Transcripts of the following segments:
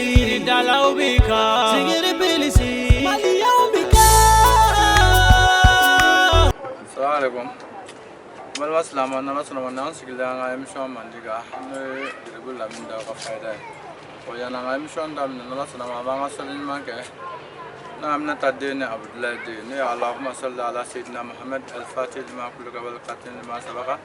Yiridalaw bɛ kan sigiri bɛ sigi maliyaw bɛ kan. Salamalekun n balima silamɛw n'Ala sɔnna a ma n'an sigilen an ka émission mandi kan n'o ye Jiribulu Lamini Dawu ka fayida ye ko yanni an ka émission daminɛ n'Ala sɔnna a ma an b'an ka sɔli ɲuman kɛ Na Aminata den ni Abudulayi den ne ye Alahuma sɔli ala seyidina Muhamɛdi alifatihi lima kulika wali katimi lima sabaka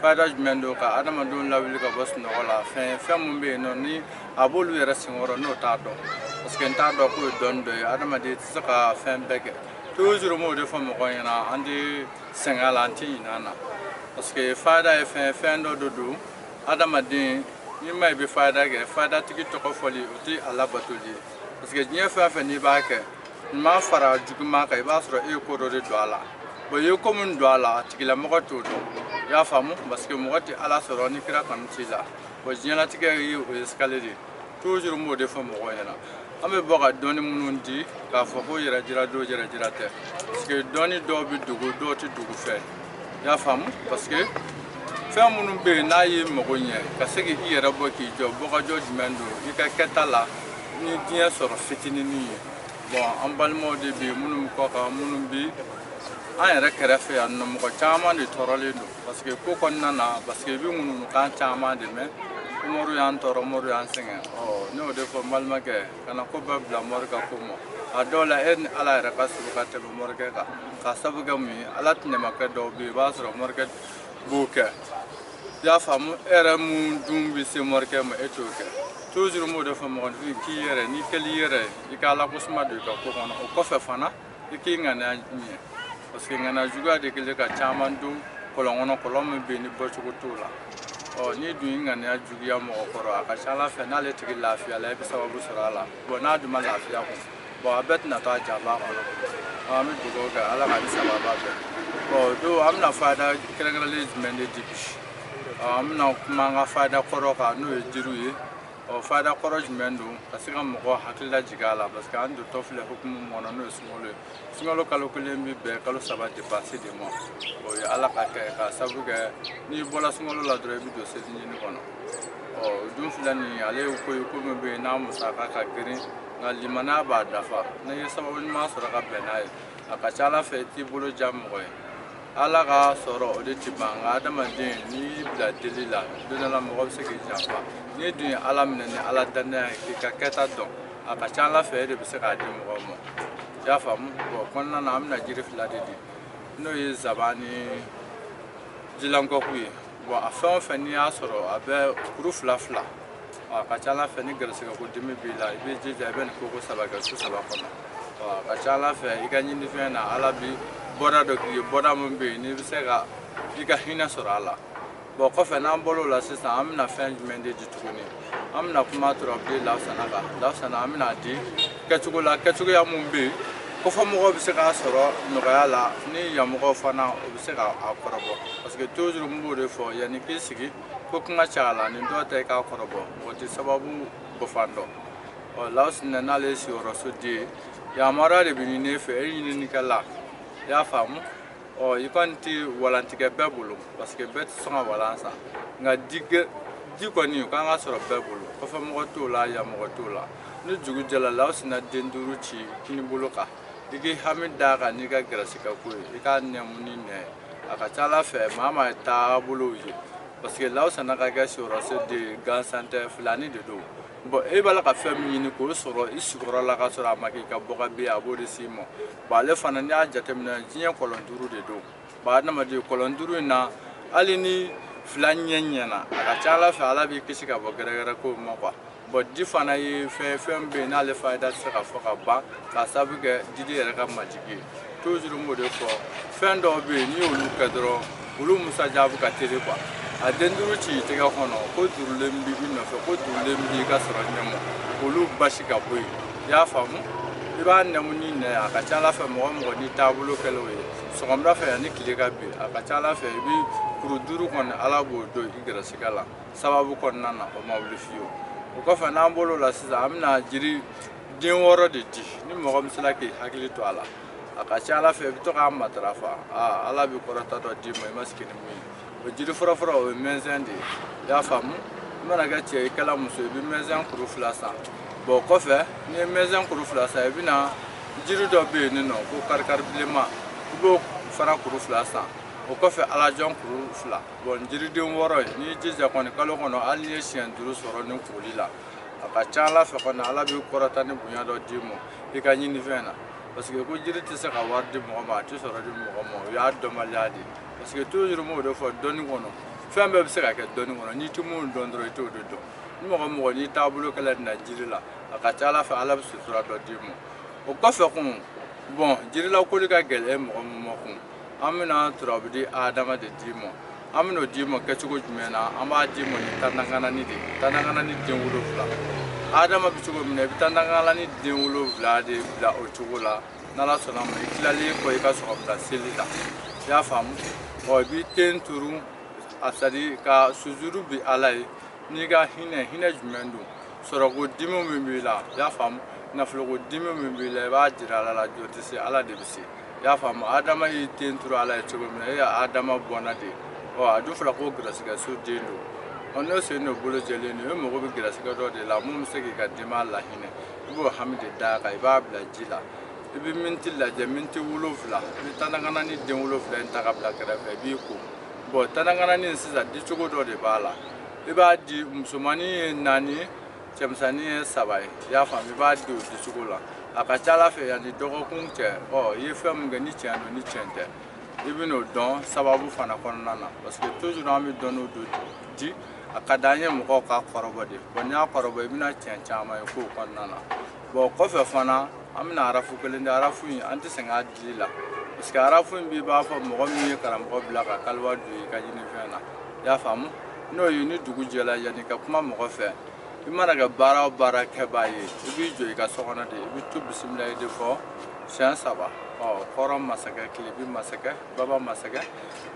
fayida jumɛn don ka adamadenw lawuli ka bɔ sunɔgɔ la fɛn min bɛ yen nɔ ni a b'olu yɛrɛ senkɔrɔ n'o t'a dɔn parce que n t'a dɔn k'o ye dɔnni dɔ ye adamaden tɛ se ka fɛn bɛɛ kɛ toujours n b'o de fɔ mɔgɔw ɲɛna an tɛ sɛgɛn a la an tɛ ɲinɛ a na parce que fayida ye fɛn dɔ de don adamaden n'i ma i bɛ fayida kɛ fayidatigi tɔgɔ fɔli o tɛ a labatoli ye parce que diɲɛ fɛn o fɛn n'i b'a kɛ ɲuman fara juguman kan i b'a sɔrɔ e ye ko dɔ de don a la bɔn i ye ko min don a la a tigilamɔgɔ t'o dɔn i y'a faamu parce que mɔgɔ tɛ ala sɔrɔ ni kira kanu t'i la bɔn diɲɛlatigɛ ye o ye escalier de ye toujours n b'o de fɔ mɔgɔw ɲɛna an bɛ bɔ ka dɔnni minnu di k'a fɔ ko yɛrɛjira don yɛrɛjira tɛ parce que dɔnni dɔw bɛ dogo dɔw tɛ dogo fewu i y'a faamu parce que fɛn minnu bɛ yen n'a y'i mago ɲɛ ka se k'i yɛrɛ bɔ k'i jɔ bɔgɔjɔ jumɛn don i ka kɛta la ni diɲɛ sɔrɔ fitinini ye bɔn an balimaw de bɛ yen minnu bɛ kɔkan minnu bɛ an yɛrɛ kɛrɛfɛ yan nɔ mɔgɔ caman de tɔɔrɔlen don parce que ko kɔnɔna na parce que i bɛ ŋununukan caman de mɛn ko mɔriw y'an tɔɔrɔ mɔriw y'an sɛgɛn ɔ ne b'o de fɔ n balimakɛ kana ko bɛɛ bila mɔri ka ko ma a dɔw la e ni ala yɛrɛ ka suru ka tɛmɛ mɔrikɛ kan k'a sabu kɛ mun ye ala tɛnɛmakɛ dɔw bɛ yen i b'a sɔrɔ mɔrikɛ b'o kɛ i y'a faamu e yɛrɛ min dun bɛ se mɔrikɛ ma e t'o kɛ toujours n b'o de fɔ mɔgɔninfin k'i yɛrɛ n'i kɛli i yɛrɛ ye i ka ala ko suma don i ka ko kɔnɔ o kɔfɛ fana i k'i ŋaniya ɲɛ parce que ŋaniya juguya de kɛlen ka caman don kɔlɔn kɔnɔ kɔlɔn min bɛ yen ni bɔcogo t'o la ɔ n'i dun y'i ŋaniya juguya mɔgɔ kɔrɔ a ka ca ala fɛ n'ale tigi lafiyala i bɛ sababu sɔrɔ a la bɔn n'a dun ma lafiya kun bɔn a bɛɛ tɛna to a janba kɔnɔ an bɛ dugawu kɛ ala k'an ni sababu bɛn bɔn don an bɛna fayida kɛrɛnkɛrɛnlen jumɛn de di bi an bɛna kuma an ka fayida kɔrɔ kan n'o ye jiriw ye ɔ fayida kɔrɔ jumɛn don ka se ka mɔgɔ hakili lajigin a la parce que an dontɔ filɛ hukumu min kɔnɔ n'o ye sunkalo ye sunkalo kalo kelen bɛ bɛn kalo saba dépense de ma o ye ala ka kɛ k'a sabu kɛ n'i bɔra sunkalo la dɔrɔn i bɛ don selincinin kɔnɔ ɔ o dun fila nin ale ye ko ye ko min bɛ yen n'a musaka ka girin nka limaniya b'a dafa n'i ye sababu ɲuman sɔrɔ ka bɛn n'a ye a ka ca ala fɛ i t'i bolo jan mɔgɔ ye ala ka sɔrɔ o de tɛ ban nka adamaden n'i y'i bila deli la don dɔ la mɔgɔ bɛ se k'i janfa n'i dun ye ala minɛ ni ala dannaya ye k'i ka kɛta dɔn a ka ca ala fɛ e de bɛ se k'a di mɔgɔw ma i y'a faamu bɔn kɔnɔna na an bɛna jiri fila de di n'o ye zaban ni jilankɔku ye bɔn a fɛn o fɛn n'i y'a sɔrɔ a bɛ kuru fila fila a ka ca ala fɛ ni garisɛgɛ ko dimi b'i la i bɛ jija i bɛ nin ko ko saba kɛ su saba kɔnɔ a ka ca ala fɛ i ka ɲinifɛn na ala bi bɔda dɔ k'i ye bɔda min bɛ yen n'i bɛ se ka i ka hinɛ sɔrɔ a la bɔn kɔfɛ n'an bɔr'o la sisan an bɛna fɛn jumɛn de di tuguni an bɛna kuma turabuden lawusana kan lawusana an bɛna di kɛcogo la kɛcogoya min bɛ yen kɔfɛ mɔgɔw bɛ se k'a sɔrɔ nɔgɔya la ni yanmɔgɔw fana o bɛ se k'a kɔrɔbɔ parce que toujours n b'o de fɔ yanni k'i sigi ko kuma cɛ a la nin dɔ tɛ k'a kɔrɔbɔ o tɛ sababu bɔfan dɔn ɔ lawusinɛ n'ale ye sigiyɔrɔso de ye yamaruya de bɛ ɲini e fɛ e ɲininikɛla i y'a faamu ɔ i kɔni tɛ walan tɛ kɛ bɛɛ bolo parce que bɛɛ tɛ sɔn ka walan san nka tɛgɛ de kɔni o kan ka sɔrɔ bɛɛ bolo kɔfɛ mɔgɔ t'o la yan mɔgɔ t'o la ni dugu jɛla lawusina den duuru ci kinibolo kan i k'i hami d'a kan n'i ka gɛrɛsigɛ ko ye i k'a nɛmu n'i nɛn ye a ka ca ala fɛ maa maa ye taabolow ye parce que lawusana ka kɛ siyɔrɔso de ye gansan tɛ filani de don bɔn e b'a la ka fɛn min ɲini k'o sɔrɔ i sigiyɔrɔ la ka sɔrɔ a ma k'i ka bɔka bɛ a b'o de s'i ma ba ale fana n'i y'a jateminɛ diɲɛ kɔlɔn duuru de don ba adamaden kɔlɔn duuru in na hali ni fila ɲɛ ɲɛna a ka ca ala fɛ ala b'i kisi ka bɔ gɛrɛgɛrɛ ko ma quoi bɔn di fana ye fɛn fɛn bɛ yen n'ale fayida tɛ se ka fɔ ka ban k'a sababu kɛ diden yɛrɛ ka majigi ye toujours n b'o de fɔ fɛn dɔw bɛ yen n'i y'olu kɛ dɔrɔn olu musajabu ka teli quoi a den duuru ci i tɛgɛ kɔnɔ ko duurulen b'i nɔfɛ ko duurulen b'i ka sɔrɔ ɲɛ ma olu basi ka bɔ yen i y'a faamu i b'a nɛmu n'i nɛn a ka ca ala fɛ mɔgɔ mɔgɔ n'i taabolo kɛl'o ye sɔgɔmada fɛ yanni tile ka bin a ka ca ala fɛ i bɛ kuru duuru kɔni ala b'o don i gɛrɛsigɛ la sababu kɔnɔna na o ma wuli fiyewu o kɔfɛ n'an bɔl'o la sisan an bɛna jiri den wɔɔrɔ de di ni mɔgɔ min sera k'i hakili to a la a ka ca ala fɛ i bɛ to k'a matarafa aa ala bɛ kɔrɔta dɔ d'i ma i ma sigi ni min ye o jiri fɔlɔfɔlɔ o ye mɛnsɛn de ye i y'a faamu i mana kɛ cɛ i kɛla muso i bɛ mɛnsɛn kuru fila san bɔn kɔfɛ n'i ye mɛnsɛn kuru fila san i bɛna jiri dɔ bɛ yen nin nɔ ko karikari bilenman i b'o fana kuru fila san o kɔfɛ alajɔn kuru fila bɔn jiriden wɔɔrɔ ye n'i jija kɔni kalo kɔnɔ hali n'i ye siɲɛ duuru sɔrɔ nin koli la a ka ca ala fɛ kɔni ala b'i kɔrɔta ni bonya dɔ d'i ma i ka ɲinifɛn na parce que ko jiri tɛ se ka wari di mɔgɔ ma a tɛ sɔrɔ di mɔgɔ ma o y'a dɔnbaliya de ye parce que toujours n b'o de fɔ dɔnni kɔnɔ fɛn bɛɛ bɛ se ka kɛ dɔnni kɔnɔ n'i tɛ min dɔn dɔrɔn i t'o de dɔn ni mɔgɔ mɔgɔ n'i taabolo kɛla nin na jiri la a ka ca ala fɛ ala bɛ sutura dɔ d'i ma o kɔfɛ kun bɔn jirilakoli ka gɛlɛn mɔgɔ min ma kun an bɛna turabu di adama de d'i ma an bɛn'o d'i ma kɛcogo jumɛn na an b'a d'i ma ni tandankanani de ye tandankanani den wolonwula adama bɛ cogo min na i bɛ tandankanani den wolonwula de bila o cogo la n'ala sɔnna ma i tilalen kɔ i ka sɔgɔmada seli la i y'a faamu ɔ i b'i ten turu a c'est-à-dire ka sujuru bi ala ye n'i ka hinɛ hinɛ jumɛn don sɔrɔko dimi min b'i la i y'a faamu nafoloko dimi min b'i la i b'a jira ala la jɔn tɛ se ala de bɛ se i y'a faamu adama y'i ten turu ala ye cogo min na e ye adama bɔnna de ɔ a dun fɔra ko garisigɛ so den don ɔ n'o sen n'o bolo jɛlen don e mago bɛ garisigɛ dɔ de la mun bɛ se k'i ka denbaya lahinɛ i b'o hami de d'a kan i b'a bila ji la i bɛ miniti lajɛ miniti wolonfila i bɛ tandankanani den wolonfila in ta ka bila kɛrɛfɛ i b'i ko bɔn tandankanani sisan dicogo dɔ de b'a la i b'a di musomannin ye naani cɛmisɛnnin ye saba ye i y'a faamu i b'a di o dicogo la a ka ca ala fɛ yanni dɔgɔkun cɛ ɔ i ye fɛn min kɛ ni tiɲɛ don ni tiɲɛ tɛ i bɛn'o dɔn sababu fana kɔnɔna na parce que toujours an bɛ dɔnni dɔw di a ka d'an ye mɔgɔw k'a kɔrɔbɔ de bɔn n'i y'a kɔrɔbɔ i bɛna tiɲɛ caman ye kow kɔnɔna na bɔn kɔfɛ fana an bɛna arafu kelen di arafu in an tɛ sɛgɛn a la parce que arafu in b'i b'a fɔ mɔgɔ min ye karamɔgɔ bila ka kaliwa don i ka ɲinifɛn na i y'a faamu n'o ye ni dugu jɛla yanni ka kuma mɔgɔ fɛ i mana kɛ baara o baara kɛbaa ye i b'i jɔ i ka so kɔnɔ de i bɛ to bisimilayi de fɔ siɲɛ saba ɔ kɔrɔn masakɛ tilebin masakɛ baba masakɛ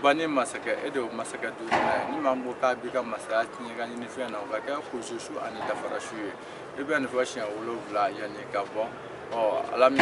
bani masakɛ e de y'o masakɛ duurunan ye ni maa min ko k'a b'i ka masaya tiɲɛ ka ɲinifɛn na o ka kɛ kurusu su ani dafara su ye i bɛ nin fɔ siɲɛ wolonwula yanni ka bɔ ɔ ala min